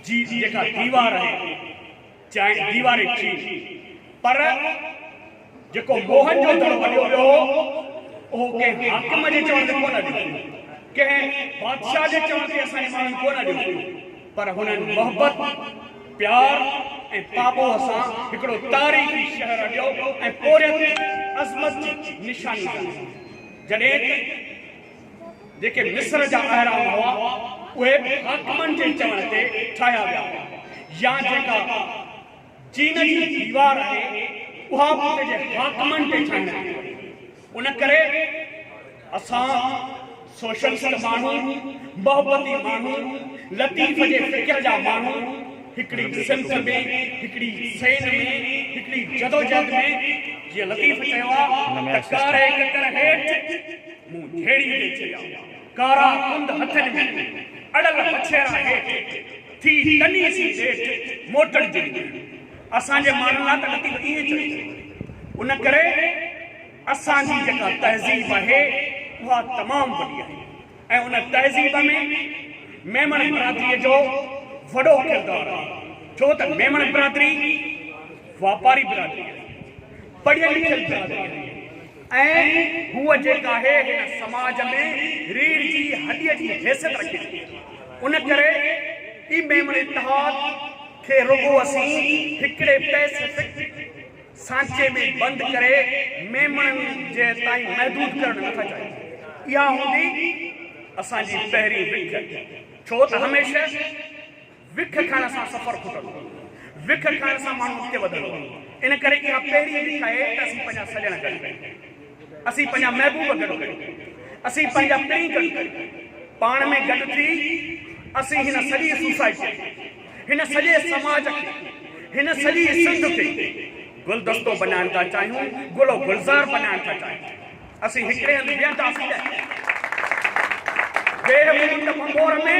جي جيڪا ديوار آهي چيائين ديواري چين پر جيڪو موهن جو دڙو اڏيو ويو هو اهو ڪنهن حاڪم جي چوڻ تي ڪونه اڏيو ويو ڪنهن بادشاهه جي چوڻ تي اسان جي ماڻهن ڪونه اڏيو ويو پر هنن محبت پيار ۽ پاٻوهه سان هڪڙو تاريخي شهر اڏيو ۽ پورهيت عظمت جي نشاني بڻايو جڏهن ته جيڪي مصر جا اهرام هئا، اهي به حاڪمن جي چوڻ تي ٺاهيا ويا هئا يا جيڪا چين جي ديوار آهي، اها به اتي جي حاڪمن تي ٺاهڻ ڏني وئي. ان ڪري اسان سوشلسٽ ماڻهو، محبتي ماڻهو، لطيف جي فڪر جا ماڻهو، هڪڙي صنف ۾، هڪڙي سين ۾، هڪڙي جدوجهد ۾، جيئن لطيف چيو آهي ته ڪاري ڪڪر هيٺ، مون جهيڙي تي چڙهيا، ڪارا ڪنڌ هٿن ۾ اڙل وڇيرا هيٺ ٿي تني سين نيٺ موٽڻ جي نيڻ اسان جي ماڻهن لاء ته لطيف ائين چئي ٿو. ان ڪري اسان جي جيڪا تهذيب آهي اها تمام وڏي آهي ۽ ان تهذيب ۾ ميمڻ برادريء جو وڏو ڪردار آهي ڇو ته ميمڻ برادري واپاري برادري آهي، پڙهيل لکيل برادري آهي. ۽ ئي هوء جيڪ آهي هن سماج ۾ ريڙهه جي هڏيء جي حيثيت رکي ٿي. ان ڪري ئي ميمڻ اتحاد کي رڳو اسين هڪڙي پئسفڪ سانچي ۾ بند ڪري ميمڻن جي تائين محدود ڪرڻ نه ٿا چاهيون. اها هوندي اسان جي پهرين وک. ڇو ته هميشه. وک کائڻ سان سفر کٽندو آهي. وک کائڻ سان ماڻهو اڳتي وڌندو آهي. ان ڪري اها پهرين وک آهي ته اسين پنهنجا سڄڻ گڏ ڪيون. اسين پنهنجا محبوب گڏ ڪيون. اسين پنهنجا پرينء گڏ ڪيون. پاڻ ۾ گڏ ٿي اسين هن سڄي سوسائٽيء کي، هن سڄي سماج کي، هن سڄي سنڌ کي گلدستو بنائڻ ٿا چاهيون، گل و گلزار بنائڻ ٿا چاهيون. اسين هڪڙي هنڌ ويهنداسين ته ويهه منٽ ڀنڀور ۾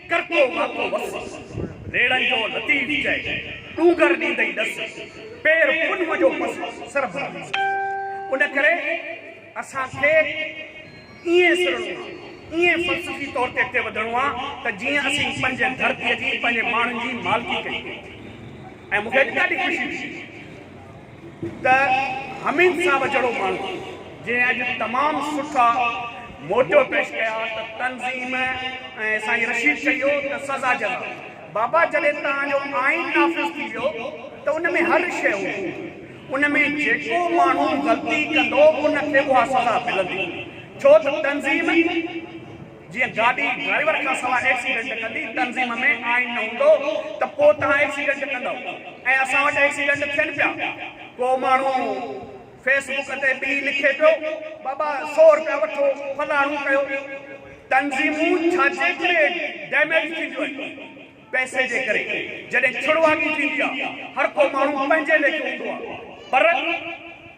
ڪرڪو ماڪو وس، ريڙهن جو لطيف چئي ڏونگر ڏيندئي ڏس، پير پنهون جو پس سر ڀرندي سس. ان ڪري اسان کي ائين سرڻو آ، ائين فلسفي طور تي اڳتي وڌڻو آ ته جيئن اسين پنهنجي ڌرتيء جي، پنهنجي ماڻهن جي مالڪي ڪري. ۽ مون کي اڄ ڏاڍي خوشي ٿي. ته حميد صاحب جهڙو ماڻهو جنهن اڄ تمام سٺا موٽو پيش ڪيا ته تنظيم ۽ سائين رشيد چيو ته سزا جزا بابا جڏهن توهان جو آئين نافذ ٿي ويو ته ان ۾ هر شيء هوندي ان ۾ جيڪو ماڻهو غلطي ڪندو ان کي اها سزا ملندي ڇو ته تنظيم جيئن گاڏي ڊرائيور کان سواء ايڪسيڊنٽ ڪندي، تنظيم ۾ آئين نه هوندو ته پوء توهان ايڪسيڊنٽ ڪندؤ ۽ اسان وٽ ايڪسيڊنٽ ٿين پيا. ڪو ماڻهو فيس بڪ تي به لکي پيو، بابا سؤ رپيا وٺو، فلاڻو ڪيو. تنظيمون ڇاجي ڪري ڊيميج ٿينديون آهن؟ پئسي جي ڪري جڏهن ڇڙواڳي ٿيندي آ هرڪو ماڻهو پنهنجي ليکيو هوندو آ پر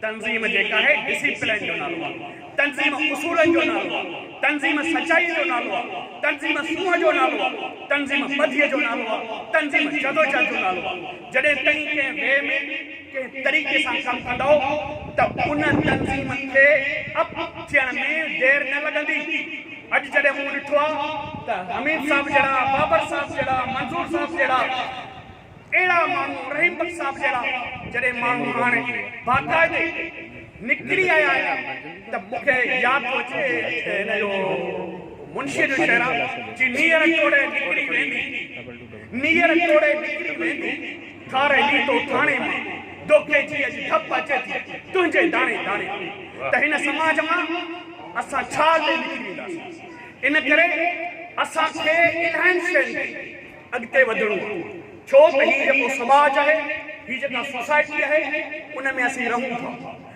تنظيم جيڪ آهي ڊسيپلين جو نالو آ تنظيم اصولن جو نالو آ تنظيم سچائي جو نالو آ تنظيم سونهن جو نالو آ تنظيم ٻڌي جو نالو آ تنظيم جدوجهد جو نالو آ جڏهن تئين ڪنهن وي ۾ ڪنهن طريقي سان ڪم ڪندؤ ته ان تنظيم کي اپ ٿيڻ ۾ دير نه لڳندي. اڄ جڏهن مون ڏٺو آ ته حميد صاحب جهڙا، بابر صاحب جهڙا، منظور صاحب جهڙا اهڙا ماڻهو، رحيم بخش صاحب جهڙا جڏهن ماڻهو هاڻي باقاعدي نڪري آيا آهن ته مون کي ياد ٿو اچي ته هن جو منشيء جو شعر آ، جي نيئر ٽوڙي نڪري ويندي، نيئر ٽوڙي نڪري ويندي. ڪاري ليٽو ٿاڻي مان ڏوڪي جي اڄ ڌپ اچي ٿي تنهنجي داڻي داڻي تي ته هن سماج مان اسان ڇا ڏئي لڪي وينداسين ان ڪري اسان کي الائن شين تي اڳتي وڌڻو آهي ڇو ته هي جيڪو سماج آهي هي جيڪا سوسائٽي آهي ان ۾ اسين رهون ٿا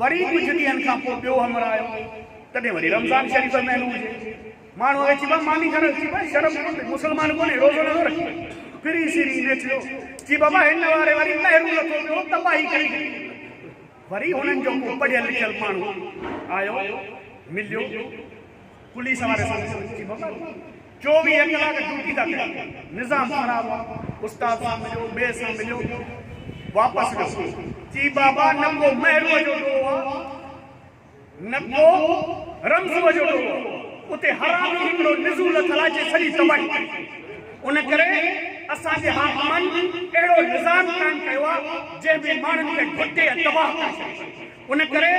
وري ڪجهه ڏينهن کان پوء ٻيو همراهه آيو، تڏهن وري رمضان شريف جو مهينو هجي. ماڻهو آيو، چيبا ماني کڻ، چيبا شرم ڪونهي، مسلمان ڪونهين، روزو نٿو رکين. ڦري سري نيٺيو، چي بابا هن واري وري مهرون لٿو پيو، تباهي ڪري ڇڏي اٿئي. وري هنن جو ڪو پڙهيل لکيل ماڻهو آيو، مليو. پوليس واري سان سمجهي بابا جي چوويهه ڪلاڪ ڊيوٽي ٿا ڪريون نظام خراب آ استاد سان مليو ٻئي سان مليو واپس ويو چي بابا نه ڪو مهروء جو ڏوهه آ نه ڪو رمضوء جو ڏوهه آ اتي حرامي هڪڙو نزو لٿل آ جي سڄي تباهي ڪئي ان ڪري اسان جي حاڪمن اهڙو نظام قائم ڪيو آ جنهن ۾ ماڻهن کي گهٽي ۽ تباهه ڪري ڇڏيو ان ڪري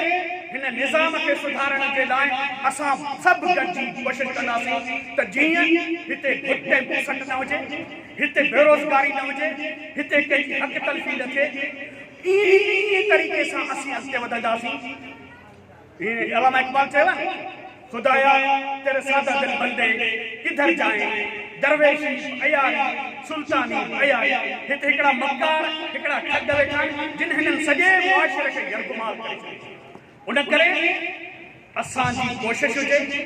هن نظام کي سڌارڻ جي لاء اسان سڀ گڏجي ڪوشش ڪنداسين ته جيئن هتي گهٽ ۽ بوسٽ نه هجي، هتي بيروزگاري نه هجي، هتي ڪنهن جي حق تلفي نه ٿئي. انهيء طريقي سان اسين اڳتي وڌنداسين. هيء علامه اقبال چيو آهي نه. خدايا! تيري ساده دل بندي ڪڌر جائين؟ درويشي به عياري، سلطاني به عياري، هت هڪڙا مڪار، هڪڙا ٺڳ ويٺا آهن، جن هنن سڄي معاشري کي يرغمال ڪري ڇڏيو آهي. ان ڪري اسان جي ڪوشش هجي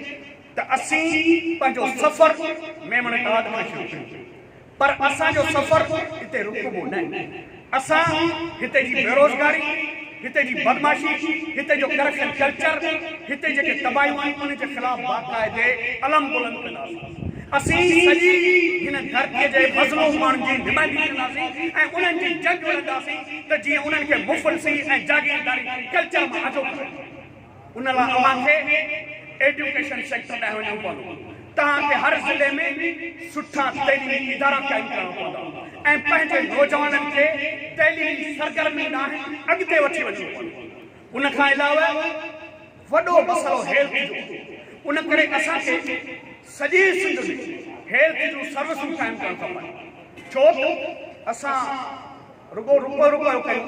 ته اسين پنهنجو سفر ميمڻ ٽاڊ کان شروع ڪيون. پر اسان جو سفر اتي رڪبو نه. اسان هتي جي بيروزگاري، هتي جي بدمعاشي، هتي جو ڪرپشن ڪلچر، هتي جيڪي تباهيون آهن انهن جي خلاف باقاعدي علم بلند ڪنداسين. اسين سڄي هن ڌرتي جي مظلوم ماڻهن جي نمائندگي ڪنداسين ۽ انهن جي جنگ وڙهنداسين ته جيئن انهن کي مفلسي ۽ جاگيرداري ڪلچر مان آجو ڪرايو وڃي. ان لاء اوهان کي ايڊيوڪيشن سيڪٽر ڏانهن وڃڻو پوندو. توهان کي هر ضلعي ۾ سٺا تعليمي ادارا قائم ڪرڻا پوندا ۽ پنهنجي نوجوانن کي تعليمي سرگرمين ڏانهن اڳتي وٺي وڃڻو پوندو. ان کان علاوه وڏو مسئلو هيلٿ جو هوندو. ان ڪري اسان کي سڄي سنڌ ۾ هيلٿ جون سروسون قائم ڪرڻ کپن. ڇو ته اسان رڳو رپيو رپيو ڪيون.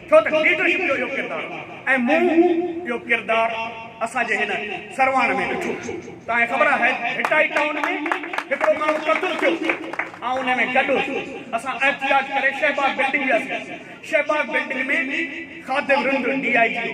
ڇو ته ليڊرشپ جو اهو ڪردار ۽ مون اهو ڪردار اسان جي هن سرواڻ ۾ ڏٺو. توهان کي خبر آهي ته ڀٽائي ٽائون ۾ هڪڙو ماڻهو قتل ٿيو، آئون انهي ۾ گڏ هوس. اسان احتجاج ڪري شهباغ بلڊنگ وياسين. Shahbagh building ۾ Khadim Rind D I G هو.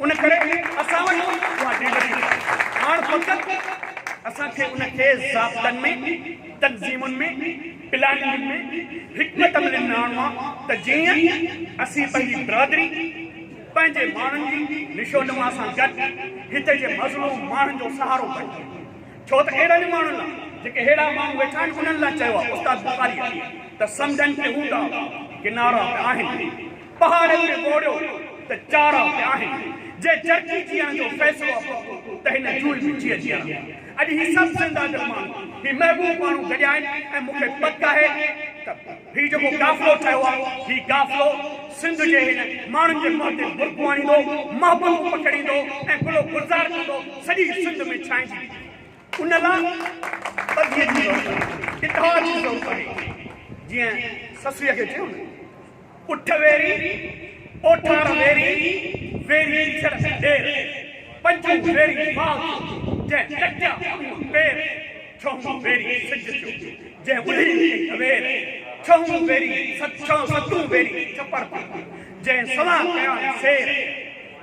ان ڪري اسان وٽ اها ڊيٽا ڪونه آهي. هاڻ فقط اسان کي ان کي ضابطن ۾، تنظيمن ۾، پلاننگ ۾ حڪمت عملين ۾ آڻڻو آهي ته جيئن اسين پنهنجي برادري، پنهنجي ماڻهن جي نشونما سان گڏ هتي جي مظلوم ماڻهن جو سهارو بڻجي. ڇو ته اهڙن ماڻهن لاء جيڪي ههڙا ماڻهو ويٺا آهن انهن لاء چيو آهي استاد بخاريء ته سمنڊن تي هوندا ڪنارا به آهن. پهاڙن ۾ ٻوڙيو ته چارا به آهن، جي جرڪي جيئڻ جو فيصلو اٿو ته هن جوئي به جيئي جيئران. اڄ هي سڀ زنده دل ماڻهو، هي محبوب ماڻهو گڏيا آهن ۽ مون کي پڪ آهي ته هي جيڪو قافلو ٺهيو آهي، هي قافلو سنڌ جي هن ماڻهن جي منهن تي برقعو آڻيندو، محبتون پکيڙيندو ۽ گل و گلزار ڪندو سڄي سنڌ ۾ ڇائنجي ويندو. ان لاء ٻڌيء جي ضرورت آهي، اتحاد جي ضرورت آهي. جيئن سسئيء کي چيو نه، اٺ ويري، اوٺار ويري، ويري چڙ ڏير، پنجون ويري مال جو، جنهن ڪٽيا پنهون پير، ڇهون ويري سج جو، جنهن ٻڌي ڪئي اوير، ڇهون ويري، ستون ويري ڇپر پاڪي، جنهن سوان ڪيائين سير.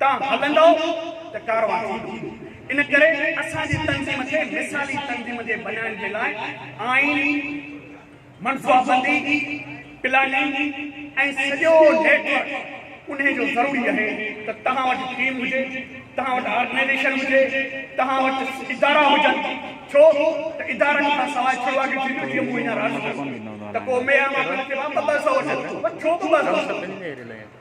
تان هلندؤ ته ڪاروان ٿيندو. ان ڪري اسان جي تنظيم کي مثالي تنظيم جي بنائڻ جي لاء آئين، منصوابندي، پلاننگ ۽ سڄو نيٽ ورڪ انهي جو ضروري اهي ته توهان وٽ ٽيم هجي، توهان وٽ آرگنائيزيشن هجي، توهان وٽ ادارا هجن ڇو ته ادارن کان سواء ڇڙو اڳ ٿيندو جيئن مون هينئر عرض ڪيو ته ڪو ميرا ماڪڙ کي ٻه ٻه سئو وٺن ٿو ڇو ٻه ٻه سئو.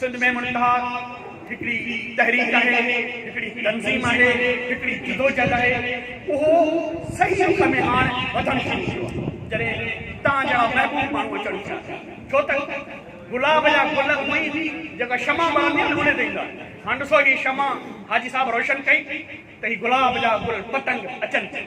سنڌ ۾ منتهاڪ هڪڙي تحريڪ آهي، هڪڙي تنظيم آهي، هڪڙي جدوجهد آهي، اهو صحيح رخ ۾ هاڻ وڌڻ شروع ٿيو آهي، جڏهن توهان جهڙا محبوب ماڻهو اچڻ ٿيا، ڇو ته گلاب جا گل اونهي ئي جيڪا شمع ٻرندي آهي نه انهي تي ايندا آهن، هاڻ ڏسو هي شمع حاجي صاحب روشن ڪئي ته هي گلاب جا گل پتنگ اچن ٿيون،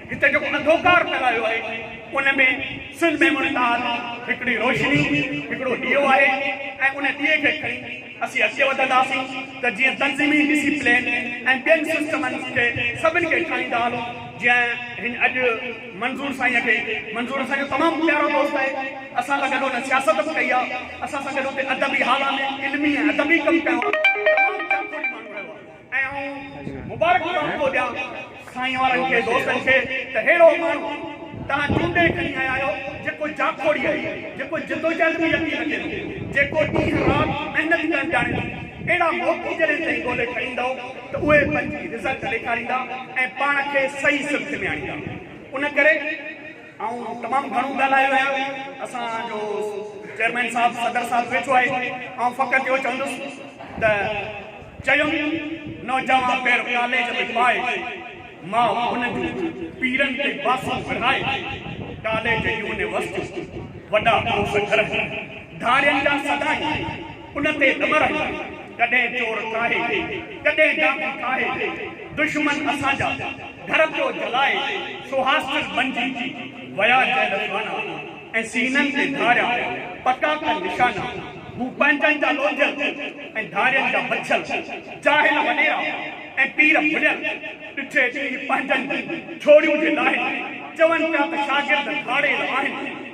هتي جيڪو انڌوڪار ڦهلايو آهي ان ۾ سن ميموري تحت هڪڙي روشني، هڪڙو ڏيئو آهي ۽ ان ڏيئي کي کڻي اسين اڳتي وڌنداسين ته جيئن تنظيمي ڊسي پلين ۽ ٻين سسٽمن کي سڀن کي ٺاهيندا هلون جيئن هن اڄ منظور سائينء کي منظور اسان جو تمام پيارو دوست آهي اسان سان گڏ هن سياست به ڪئي آهي اسان سان گڏ هتي ادبي هالا ۾ علمي ۽ ادبي ڪم ڪيو آهي تمام جاکوڙي ماڻهو رهيو آهي. ۽ آئون مبارڪون توهان کي ڏيان سائين وارن کي دوستن کي ته ههڙو ماڻهو توهان چونڊي کڻي آيا آهيو جيڪو جاکوڙي آهي جيڪو جدوجهد ۾ يقين رکي ٿو جيڪو ڏينهن رات محنت ڪرڻ ڄاڻي ٿو اهڙا موقعي جڏهن تائين ڳولي کڻي ايندؤ ته اهي پنهنجي رزلٽ ڏيکاريندا ۽ پاڻ کي صحيح سمت ۾ آڻيندا ان ڪري آئون تمام گهڻو ڳالهايو آهي ۽ اسان جو چيئرمين صاحب صدر صاحب ويٺو آهي آئون فقط اهو چوندس ته چيم نوجوان پير ڪاليج ۾ پائي ماء ان جون پيرن تي باسون ورائي ڪاليج يونيورسٽيون وڏا پروفيسر ۽ ڌاڙين جا سدا ئي ان تي نه مرن، ڪڏهن چور ڪاهي، ڪڏهن ڊاڪو ڪاهي، دشمن اسان جا، گهر پيو جلائي، سو هاسٽل بنجي، ويا جيل خانا، ۽ سينن تي ڌاريا، پڪا ڪن نشانا، هو پنهنجن جا لوڌيل، ۽ ڌارين جا بڇيل، جاهل وڏيرا، ۽ پير ڀليل، ڏٺي ڏينهن پنهنجن جي، ڇوڙيون جي لاهين، چون پيا ته شاگرد ڌاڙيل آهن.